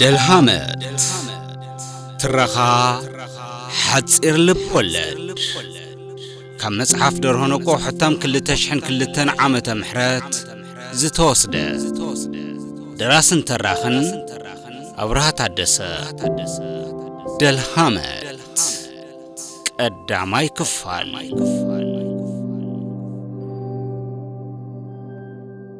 ደልሃመት ትረኻ ሓጺር ልብ ወለድ ካብ መጽሓፍ ደርሆ ነቆ ሕታም 2002 ዓመተ ምሕረት ዝተወስደ ደራስን ተራኽን ኣብርሃ ታደሰ ደልሃመት ቀዳማይ ክፋል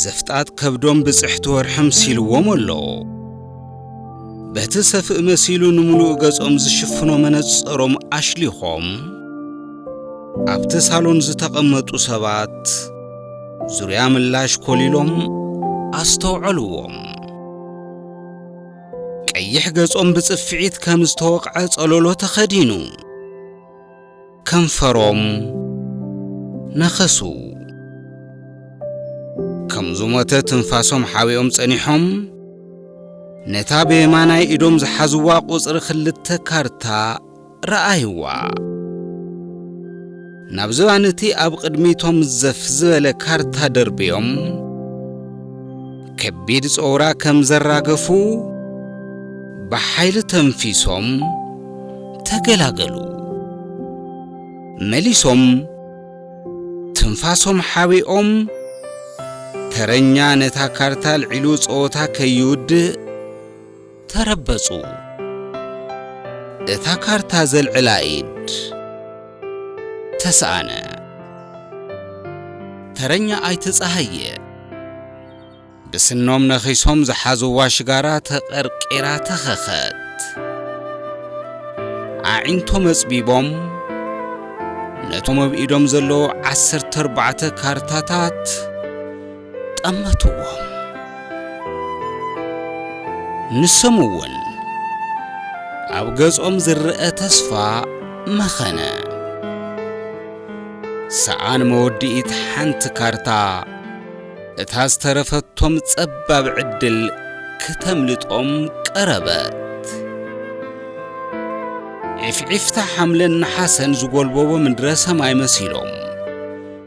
ዘፍጣት ከብዶም ብጽሕቲ ወርሒ ምሲልዎም ኣሎ። በቲ ሰፍእ መሲሉ ንምሉእ ገጾም ዝሽፍኖ መነጸሮም ኣሽሊኾም ኣብቲ ሳሎን ዝተቐመጡ ሰባት ዙርያ ምላሽ ኮሊሎም ኣስተውዐልዎም። ቀይሕ ገጾም ብጽፍዒት ከም ዝተወቕዐ ጸሎሎ ተኸዲኑ ከንፈሮም ነኸሱ። ከም ዝሞተ ትንፋሶም ሓቢኦም ጸኒሖም፣ ነታ ብየማናይ ኢዶም ዝሓዝዋ ቁጽሪ ክልተ ካርታ ረኣይዋ። ናብ ዝባን እቲ ኣብ ቕድሚቶም ዘፍ ዝበለ ካርታ ደርብዮም፣ ከቢድ ጸውራ ከም ዘራገፉ ብሓይሊ ተንፊሶም ተገላገሉ። መሊሶም ትንፋሶም ሓቢኦም ተረኛ ነታ ካርታ ኣልዒሉ ጸወታ ከይውድእ ተረበጹ። እታ ካርታ ዘልዕላ ኢድ ተሰኣነ። ተረኛ ኣይተ ጸሃየ ብስኖም ነኺሶም ዝሓዝዋ ሽጋራ ተቐርቂራ ተኸኸት። ኣዒንቶም ኣጽቢቦም ነቶም ኣብ ኢዶም ዘለዉ ዓሰርተ ኣርባዕተ ካርታታት ጠመትዎም። ንሶም እውን ኣብ ገጾም ዝረአ ተስፋ መኸነ። ሰኣን መወድኢት ሓንቲ ካርታ እታ ዝተረፈቶም ጸባብ ዕድል ክተምልጦም ቀረበት። ዒፍዒፍታ ሓምለን ነሓሰን ዝጎልበቦ ምድረ ሰማይ መሲሎም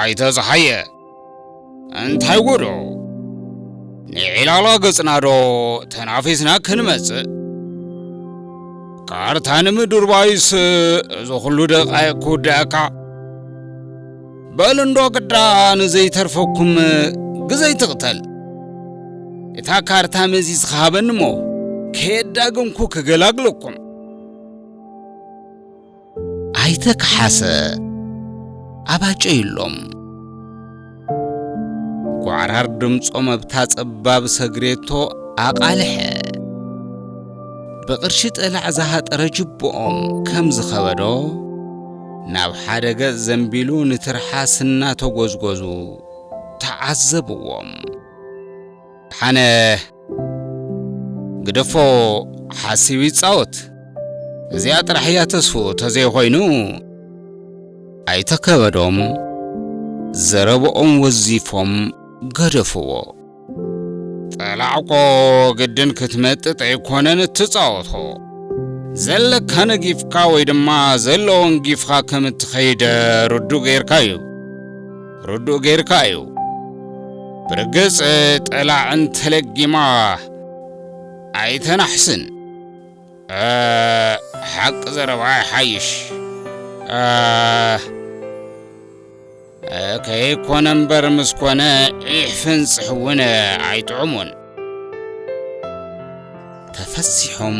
ኣይተ ጸሃየ እንታይ ጉዱ ንዒላላ ገጽና ዶ ተናፊስና ክንመጽእ ካርታ ንምድርባይስ እዚ ኩሉ ደቃይቅ ክውድኣካ በል እንዶ ግዳ ንዘይተርፈኩም ግዘይ ትቕተል እታ ካርታ መዚዝካ ሃበኒ እሞ ከየዳግምኩ ክገላግለኩም ኣይተ ከሓሰ ኣባጨዩሎም ጓዕራር ድምጾም ኣብታ ጸባብ ሰግሬቶ ኣቓልሐ ብቕርሺ ጠላዕ ዝሃጠረ ጅብኦም ከም ዝኸበዶ ናብ ሓደ ገጽ ዘንቢሉ ንትርሓስ እናተጐዝጐዙ ተዓዘብዎም። ሓነ ግደፎ ሓሲቡ ይጻወት እዚኣ ጥራሕ እያ ተስፉ ተዘይኾይኑ ኣይተ ከበዶም ዘረብኦም ወዚፎም ገደፍዎ። ጠላዕቆ ግድን ክትመጥጥ ኣይኮነን እትጻወቶ ዘለካ ነጊፍካ ወይ ድማ ዘለዎን ጊፍኻ ከም እትኸይደ ርዱእ ጌርካ እዩ። ርዱእ ገይርካ እዩ። ብርግጽ ጠላዕ እንተለጊማ ኣይተናሕስን። ሓቂ ዘረባ ይሓይሽ። ከይኮነ እምበር ምስ ኮነ ዒሕፍንጽሕ እውን ኣይጥዕሙን። ተፈሲሖም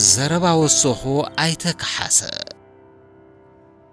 ዘረባ ወሰኹ ኣይተ ከሓሰ።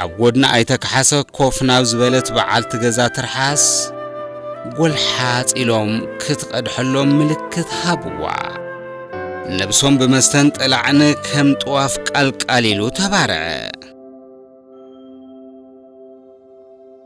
ኣብ ጎድኒ ኣይተ ካሓሰ ኮፍ ናብ ዝበለት በዓልቲ ገዛ ትርሓስ ጎልሓፅ ኢሎም ክትቐድሐሎም ምልክት ሃብዋ። ነብሶም ብመስተን ጥላዕን ከም ጥዋፍ ቃልቃል ኢሉ ተባርዐ።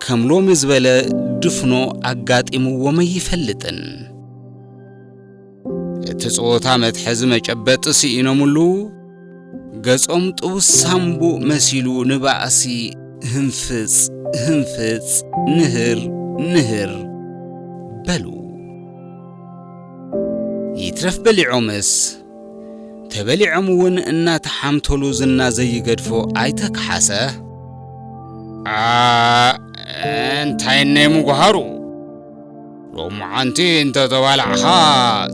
ከም ሎሚ ዝበለ ድፍኖ ኣጋጢምዎም ኣይፈልጥን። እቲ ጸወታ መትሐዚ መጨበጢ ስኢኖምሉ ገጾም ጥቡስ ሳምቡእ መሲሉ ንባእሲ ህንፍጽ ህንፍጽ ንህር ንህር በሉ። ይትረፍ በሊዖምስ ተበሊዖም ውን እናተሓምተሉ ዝና ዘይገድፎ ኣይተ ካሓሰ። ኣእ እንታይ እነይ ምጉሃሩ ሎምዓንቲ እንተተባላዕኻ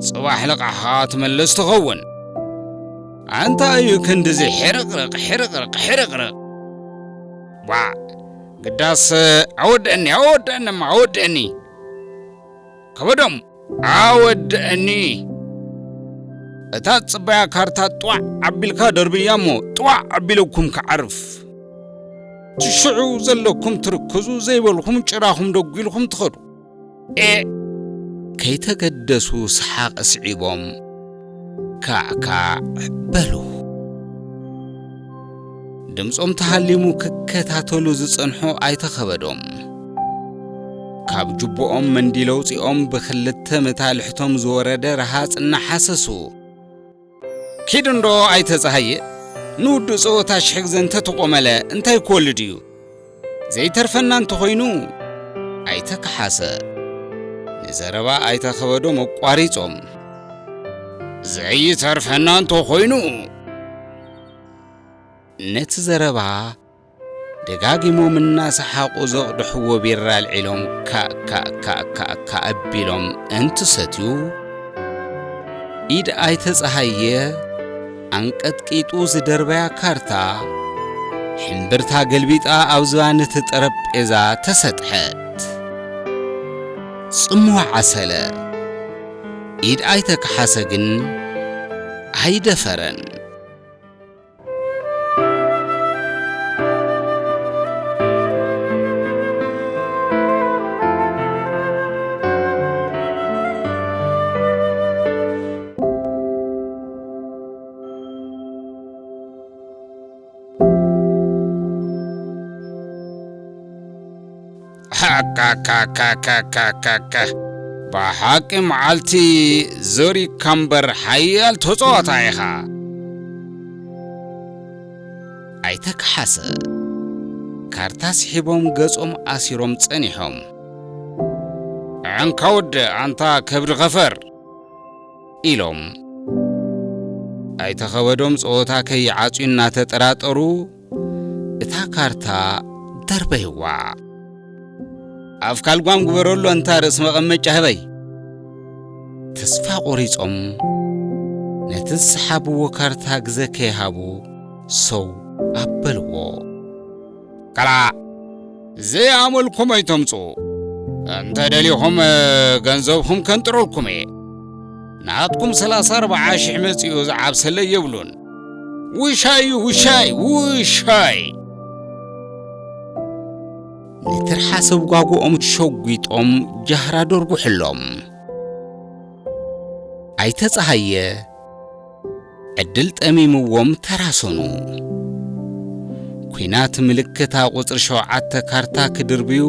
ፅባሕ ልቓሕኻ ትምልስ ትኸውን። ኣንታይ እዩ ክንድዚ ሕርቕርቕ ሕርቕርቕ ሕርቕርቕ ባዕ ግዳስ ኣወድእኒ ኣወድእኒ እማ ኣወድእኒ። ከበዶም ኣወደኣኒ። እታ ጽባያ ካርታ ጥዋዕ ኣቢልካ ደርብያ እሞ ጥዋዕ ኣቢለኩም ክዓርፍ። እቲ ሽዑ ዘለኩም ትርክዙ ዘይበልኩም ጭራኹም ደጒልኩም ትኸዱ። ኤእ! ከይተገደሱ ሰሓቕ ስዒቦም። ካዕካዕ በሉ። ድምጾም ተሃሊሙ ክከታተሉ ዝጸንሑ ኣይተ ከበዶም፣ ካብ ጁቦኦም መንዲል ኣውጺኦም ብክልተ መታልሕቶም ዝወረደ ረሃጽ እናሓሰሱ፣ ኪድ እንዶ ኣይተ ጸሃየ፣ ንውዱእ ጸወታ ሽሕ ግዘ እንተተቆመለ እንታይ ክወልድ እዩ? ዘይተርፈና እንተኾይኑ ኣይተ ከሓሰ ንዘረባ ኣይተ ከበዶም ኣቋሪጾም፣ ዘይተርፈና እንተኾይኑ ነቲ ዘረባ ደጋጊሞም እናሰሓቑ ዘቕድሕዎ ቢራ ኣልዒሎም ካእካእካእካእካ ኣቢሎም እንትሰትዩ ኢድ ኣይተ ጸሃየ ኣንቀጥቂጡ ዝደርበያ ካርታ ሕምብርታ ገልቢጣ ኣብ ዝባን እቲ ጠረጴዛ ተሰጥሐት። ጽምዋ ዓሰለ። ኢድ ኣይተ ከሓሰ ግን ኣይደፈረን። ሃካካካካካካ ብሓቂ መዓልቲ ዘሪግካ እምበር ሓያል ተፃዋታ ኢኻ ኣይተ ከሓሰ ካርታ ስሒቦም ገጾም ኣሲሮም ጸኒሖም ዕንካ ወደ ኣንታ ከብዲ ኸፈር ኢሎም። ኣይተ ከበዶም ፀወታ ከይዓፅዩ እናተጠራጠሩ እታ ካርታ ደርበይዋ። ኣፍካ ልጓም ግበረሉ ኣንታ ርእሲ መቐመጫ ህበይ። ተስፋ ቆሪፆም ነቲ ዝሰሓብዎ ካርታ ግዘ ከይሃቡ ሰው ኣበልዎ። ከላእ ዘይኣመልኩም ኣይተምጹ እንተ ደሊኹም ገንዘብኹም ከንጥረልኩም እየ ናትኩም ሰላሳ ኣርባዓ ሽሕ መጺኡ ዝዓብሰለይ የብሉን ውሻይ እዩ ውሻይ ውሻይ ንትርሓሰብ ጓጉኦም ሸጒጦም ጃህራ ደርጉሕሎም ኣይተ ፀሃየ ዕድል ጠሚምዎም ተራሰኑ። ኩናት ምልክታ ቁጽሪ ሸውዓተ ካርታ ክድርብዩ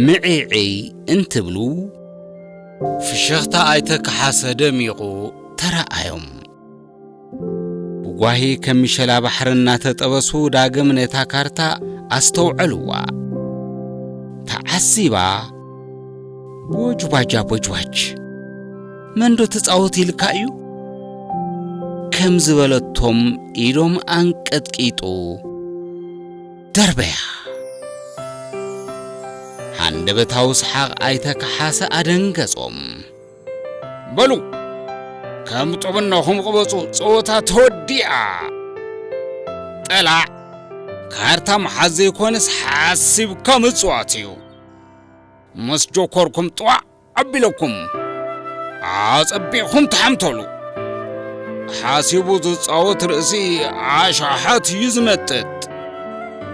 ምዒዕይ እንትብሉ፣ ፍሽኽታ ኣይተ ካሓሰ ደሚቑ ተራኣዮም። ብጓሂ ከም ምሸላ ባሕሪ እናተጠበሱ ዳግም ነታ ካርታ ኣስተውዐልዋ። ተዓሲባ ቦጅባጃቦጅባጅ! መንዶ ትጻወት ኢልካ እዩ? ከም ዝበለቶም ኢዶም ኣንቀጥቂጡ ደርበያ። ሃንደበታዊ ሰሓቕ ኣይተ ከሓሰ ኣደንገጾም። በሉ ከም ጥብናኹም ቅበጹ፣ ጸወታ ተወዲኣ። ጠላዕ ካርታ ምሓዝ ዘይኮነስ ሓሲብካ ምጽዋት እዩ። ምስ ጆኮርኩም ጥዋዕ ኣቢለኩም ኣጸቢቕኩም ተሓምተሉ። ሓሲቡ ዝጻወት ርእሲ ኣሻሓት እዩ ዝመጥጥ።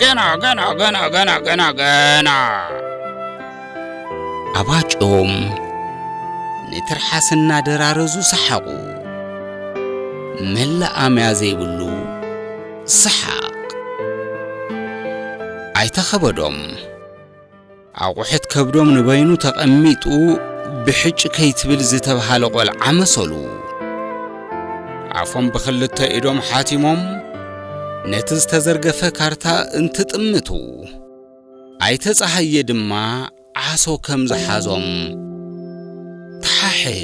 ገና ገና ገና ገና ገና ገና ኣባጭኦም ንትርሓስ እናደራረዙ ሰሓቑ። መላኣምያ ዘይብሉ ሰሓቕ ኣይተኸበዶም። ኣቑሑት ከብዶም ንበይኑ ተቐሚጡ ብሕጭ ከይትብል ዝተብሃለ ቆልዓ መሰሉ። ኣፎም ብኽልተ ኢዶም ሓቲሞም ነቲ ዝተዘርገፈ ካርታ እንትጥምቱ፣ ኣይተ ጸሃየ ድማ ዓሶ ከም ዝሓዞም ተሓሐዩ።